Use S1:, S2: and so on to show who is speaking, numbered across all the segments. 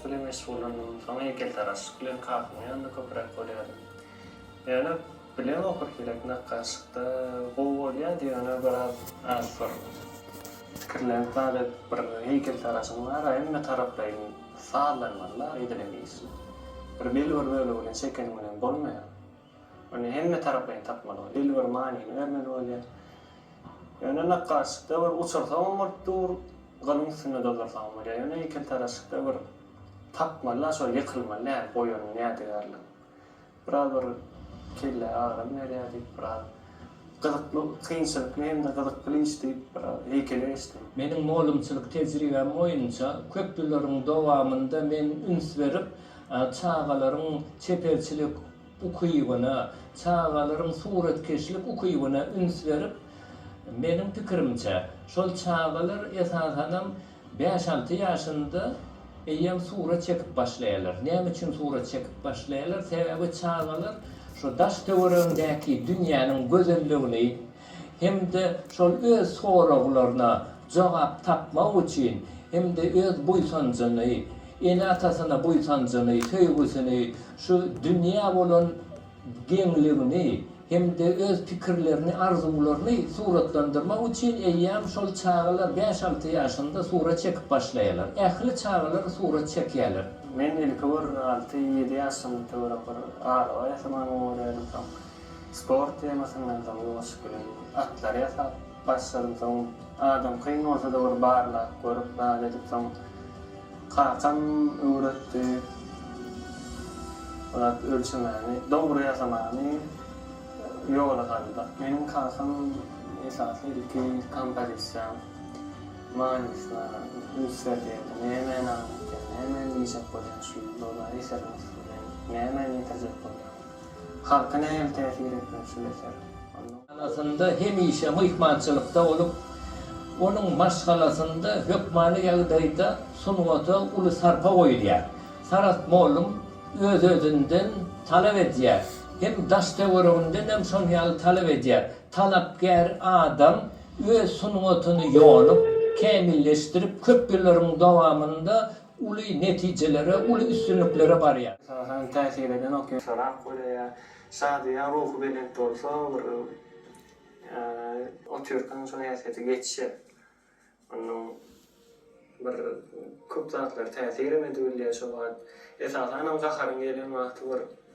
S1: Şuly meşgullandymdan soň heýkeltaraşlyk bilen kakama ýanynda köpräk bolýardym. Ýöne bileň okur kirek nakgaşlykda gowy bolýardy ýöne biraz az bir pikirlenip zat edip bir heýkeltaraşym bar hemme taraplaýyn sazlanmaly la edilen işi. Bir belbir bölegine çekeniň bilen bolmaýar. Ony hemmetaraplaýyn tapmaly bolýar. Il bir manyny bermeli bolýar. Ýöne nakgaşlykda bir uçursaňam bolup dur, gylyň üstünde doldursaňam bolýar. Ýöne heýkeltaraşlykda bir tapmaly-da, şol ýykylmaly däl, goýan ýädigärligiň. Biraz bir kelle agram berýär diýip, biraz Gyzykly, kynçylykly hem-de gyzykly iş diýip, heýkele geçdim. Meniň mugallymçylyk
S2: tejribäm boýunça köp ýyllaryň dowamynda men üns berip, çagalaryň çeperçilik ukybyna, çagalaryň suratkeşlik ukybyna üns berip, meniň pikirimçe, şol çagalar esasanam Bäş-alty ýaşynda eýýäm surat çekip başlaýarlar. Näme üçin surat çekip başlaýarlar? Sebäbi çagalar şu daş-töweregindäki dünýäniň gözelligini hem-de şol öz soraglaryna jogap tapmak üçin hem-de öz buýsanjyny, ene-atasyna buýsanjyny, söýgüsini, şu dünýä bolan geňligini, hem-de öz pikirlerini, arzuwlaryny suratlandyrmak üçin eýýäm şol çagalar bäş-alty ýaşynda surat çekip başlaýarlar. Ähli çagalar surat çekýärler. Men ilki bir
S1: alty-ýedi ýaşym töwerek bir galyba ýasamagyny öwrendim. Soň sport temasyndan soň welosiped bilen atlary ýasap. Başladym soň adam kyn bolsada ony barlap görüp zat edip soň kakam öwretdi zat ölçemäni dogry ýasamany ýola saldy. Meniň kakam esasy ilki kompozisiýaň manysyna üns berýärdi nämeni aňlatýar nämäni diýjek bolýaň şu ýylda ola eseriň üstünden nämäni ýetirjek bolýaň. Halka nähili täsir etmeli şul eser? Maşgalasynda
S2: hemişe myhmançylykda bolup, onuň maşgalasynda hökmany ýagdaýda sungata uly sarpa goýulýar. Saragt mugallym öz-özünden talap edýär. Hem daş-töwereginden hem şon ýaly talap edýär. Talapkär adam öz sungatyny ýonup, kämilleşdirip, köp ýyllaryň dowamynda uly netijelere, uly üstünliklere barýar. Esasan täsir eden
S1: okuýan. Sorap golaýar. Şadyýan, ruhubelent bolsa bir otyrkaň şo häsiýete geçýär. Onuň bir köp zatlary täsirem edibilýär şo wagt. Esasanam gaharyň gelen wagty bir.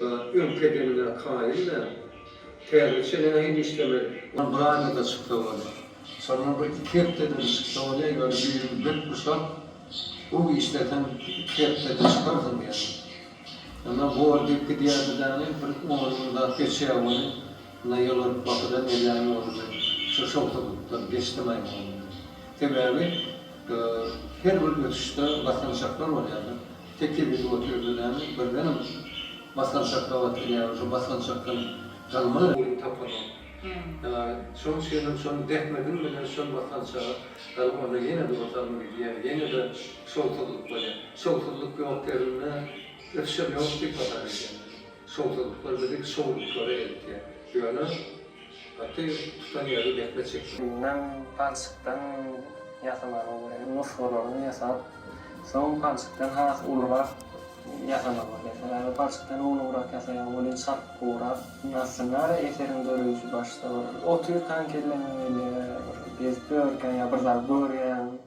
S3: Zat öňki edeniňe kaýyl däl. Täze çenä hem işlemeli. Ol bir aýda-da çyksa bolýa. Şonda bir iki hepde-de çyksa bolýa, ýöne ýüzüni berk guşap, gowy işleseň, iki hepde-de çykarsyň diýýärdi. Ýöne bor diýip gidýärdi däni, bir on gün zat geçýä welin, ynha ýylyryp bakydan elläni boldy men şu şowsuzlykdan geçdim-aý oglan diýip. Sebäbi her bir ötüşde basançaklar bolýa-da. Tekiz indi oturdy näme birdenem basgançak gabat gelýär şo basgançakdan galma. Guýyny tapanok. Ýaly şoň üçinem şony zähmedim bilen şol basgançaga galyp onda ýene-de otaryma gidýär ýene-de şowsuzlyk bolýar. Şowsuzlyk ýok ýerinde ösüşem ýok diýip hasap edýän. Şowsuzlyklar bizi şowluklara eltýär. Ýöne Atyň tutan ýeri depbe çekilip. Ýünden, palçykdan
S1: ýasamana görä nusgalaryny ýasap, soň palçykdan has ulurak ýasamagy bolýar. Sebäbi palçykdan ulugrak ýasaýan welin çabukrak. Aslynda-da eseriň döreýşi başda bir oty ýutan kelleňe gelýär, bir gezip ýörkäň ýa bir zat görýäň.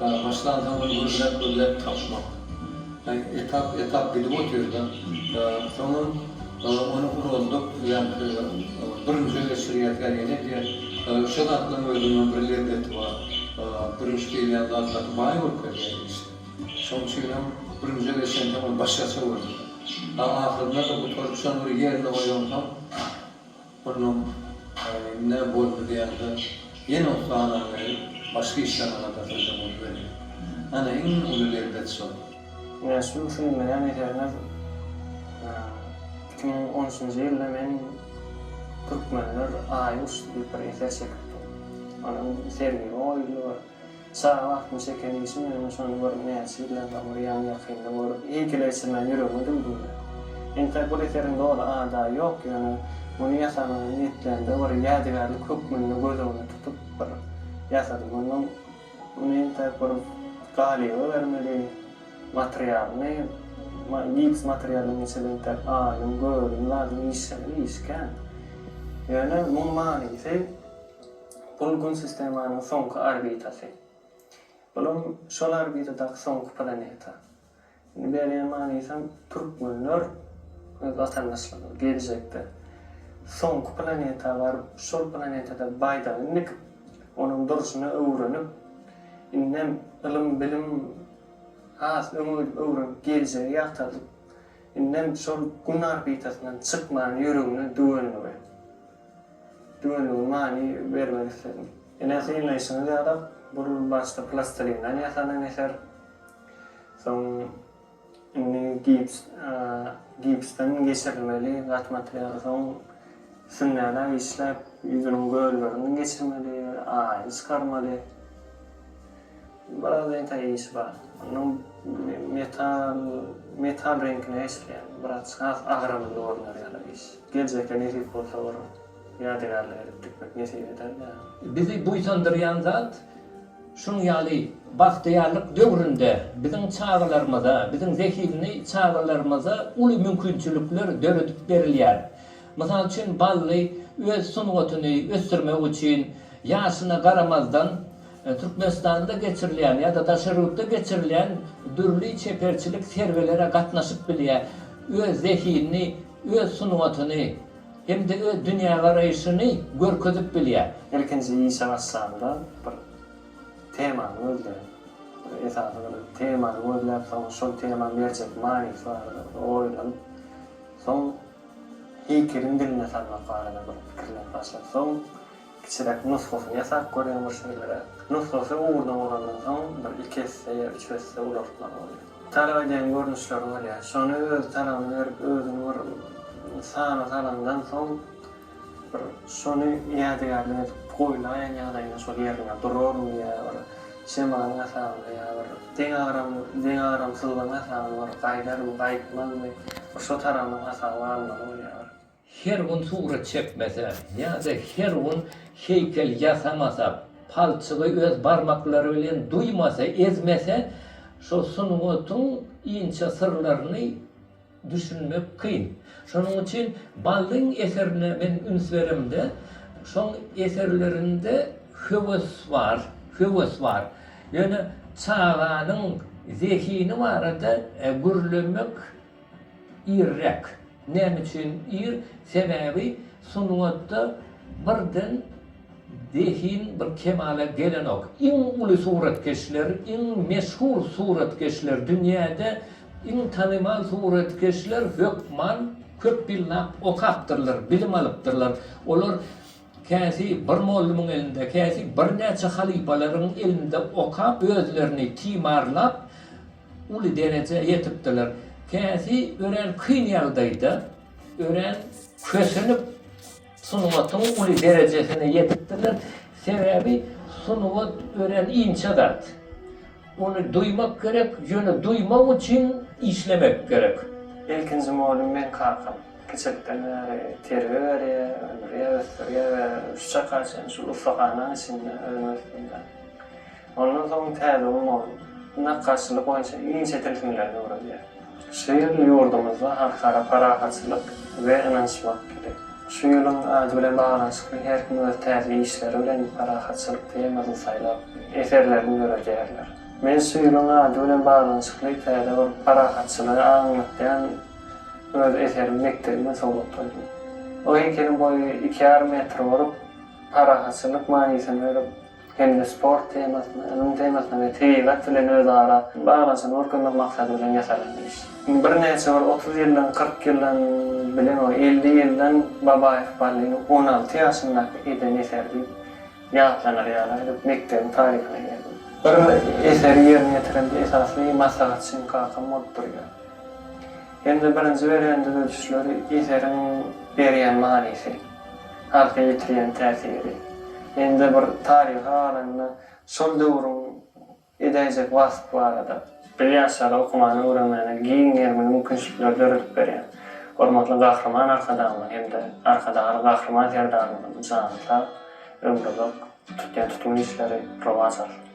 S3: Başlansoňam gürläp gürläp tapmak. Etap etap gidip otyrda. Soňam ony uraldyp ýaňky birinjä geçirýärkä ýene edýär. Şo zatlaň özüniňem bir lezzeti bar. Bürünç diýilýän zat gaty baý bolup gelýär işe. Şoň üçinem bürünje geçensoň ol başgaça görünýär. Ahyrynda-da gutaryp şony bir ýerine goýaňsoň Onuň ne boldy diýende, ýene uklana girip, başga işlerine gadar sözem goýberýär. Ana, iň uly lezzet şol. Näşübem
S1: şuny bilýän eserňiz, iki müň on üçünji ýylda men Türkmenler aýy uçdy diýip bir eser çekipdim. Onuň sergä goýuldy bir. Çaga wagtym çeken işim ýöne şony görüp näçe ýyldan soň bir ýan ýakynda görüp eýkeleşdirmän ýüregime düwdümde. Entek bir eseriň doly ada ýok ýöne muny ýasamaga niýetlende bir ýadygärlik hökmünde göz öňüne tutup bir ýasadym mundan muny entek bir galyba bermeli materialyny gips materialyny geçeli entek aýyň gögüň zadyň işleme iş kän ýöne muň manysy Bul Gün sistemanyň soňky orbitasy. Bulam şol orbitadaky soňky planeta. Indi berýän manysam türkmenler öz watandaşlaryna geljekde soňky planeta baryp şol planetada baýdagyny dikip onuň durşuny öwrenip indem ylym bilim has öňe gidip öwrenip geljegi ýagtardyp indem şol Gün orbitasyndan çykman ýüregine düwendigi. Düwenigiň many bermek isledim. Ine synlaýşyňyz ýaly bu başda plastilinden ýasanan eser. Soň indi gips gipsden geçirilmeli gat materialy. Soň sünnäläp işläp ýüzüniň göllerini geçirmeli, aýyny çykarmaly. Biraz reňka işi bar. Onuň metal metal reňkine geçilýär. Biraz has agramly görner ýaly iş. Geljekde nesip bolsa bir ýadygärlik edip tikmek nesip eder-dä. Bizi buýsandyrýan
S2: zat şunuň ýaly bagtyýarlyk döwründe biziň çagalarymyza, biziň zehinli çagalarymyza uly mümkinçilikler döredip berilýär. Mysal üçin Bally öz sungatyny ösdürmek üçin ýaşyna garamazdan Türkmenistanda geçirilýän ýa-da daşary ýurtda geçirilýän dürli çeperçilik sergilere gatnaşyp bilýär, öz zehinini, öz sungatyny hem-de öz dünýägaraýşyny görkezip bilýär. Ilkinji işe
S1: başlanda bir temany gözleýär. Bir esasy bir temany gözläp, soň şol temany berjek manysy barada bir oýlanyp, soň heýkeliň diline salmak barada bir pikirlenip başlap, soň. Kiçiräk nusgasyny ýasap görýän bir şeýleräk nusgasy ugurda bolandan soň bir iki esse ýa üç esse ulaltmaly bolýar. Talap edýän görnüşleri bolýar. Şony öz talabyny berip özüni bir sana salandan soň bir şony ýadygärlik edip goýlaýan ýagdaýynda şol ýerinde duraryn ýa bir şemalyň hasabyna ýa bir deň agram deň agramsyzlygyň hasabyna bir gaýdarmy gaýtmazmy bir şo tarabynyň hasaby almaly bolýar. Her gün
S2: surat çekmese ýa-da her gün heýkel ýasamasa, palçygy öz barmaklary bilen duýmasa, ezmese, şu sungatyň inçe syrlaryny düşünmek kyn. Şonuň üçin Ballyň eserine men üns beremde, şoň eserlerinde höwes bar, höwes bar. Ýöne çaganyň zehini barada gürlemek Irräk. Näme üçin ir? Sebäbi sungatda birden zehin bir kemala gelenok. Iň uly suratkeşler, iň meşhur suratkeşler, dünýäde iň tanymal suratkeşler hökman köp ýyllap okapdyrlar, bilim alypdyrlar. Olar käsi bir mollumyň elinde, käsi birnäçe halypalaryň elinde okap, özlerini timarlap, Uly derejä ýetipdiler. Käsi örän kyn ýagdaýda, örän kösenip sungatyň uly derejesine ýetipdirler. Sebäbi sungat örän inçe zat. Ony duýmak gerek, ýöne duýmak üçin işlemek gerek. Ilkinji mugallym
S1: meň kakam. Kiçilikden bäri terbiýe berýär, öndürýär, ösdürýär we şu çaka çenli şul ussahanaň içinde özümi ösdürdim. Ondan soň täze ummany nakgaşçylyk boýunça inçe tilsimlerini öwredýär. Şu ýyl ýurdumyzda Halkara parahatçylyk we ynanyşmak ýyly. Şu ýylyň ady bilen baglanyşykly her kim öz täze işleri bilen parahatçylyk temasyny saýlap, eserlerini döredýärler. Men şu ýylyň ady bilen baglanyşykly täze bir parahatçylygy aňlatýan öz eserimi mekdebime sowgatladym. O heýkeliň boýy iki ýarym metr bolup, parahatçylyk manysyny bölüp, hem-de sport temasyna, ylym temasyna we tebigat bilen özara baglanyşyny görkezmek maksady bilen ýasalan iş. Birnäçe bir otuz ýyldan, kyrk ýyldan, bilen ol elli ýyldan Babaýew Ballynyň on alty ýaşyndaky eden eseri diýip ýatlanar ýaly aýdyp, mekdebiň taryhyna girdim. Bir eseri ýerine ýetirende esasy maslahatçym kakam bolup durýar. Hem-de birinji berýän düzedişleri eseriň berýän manysy. Arka ýetirýän täsiri. Mende bir taryhy galanda şol döwrüň edäýjek waspy barada. Biz ýaşlara okumana, öwrenmäne giň gerimli mümkinçilikleri döredip berýän Hormatly Gahryman Arkadagymyz hem-de Arkadagly Gahryman Serdarymyzyň jany sag, ömri uzak, tutýan tutumly işleri rowaç alsyn!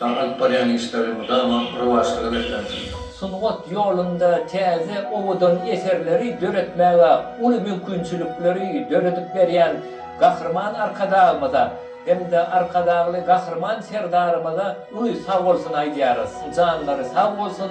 S3: Daň alyp barýan işleri mydama rowaçlyga beslensin! Sungat
S2: ýolunda täze, owadan eserleri döretmäge uly mümkinçilikleri döredip berýän Gahryman Arkadagymyza hem-de Arkadagly Gahryman Serdarymyza uly sagbolsun aýdýarys. Janlary sag bolsun!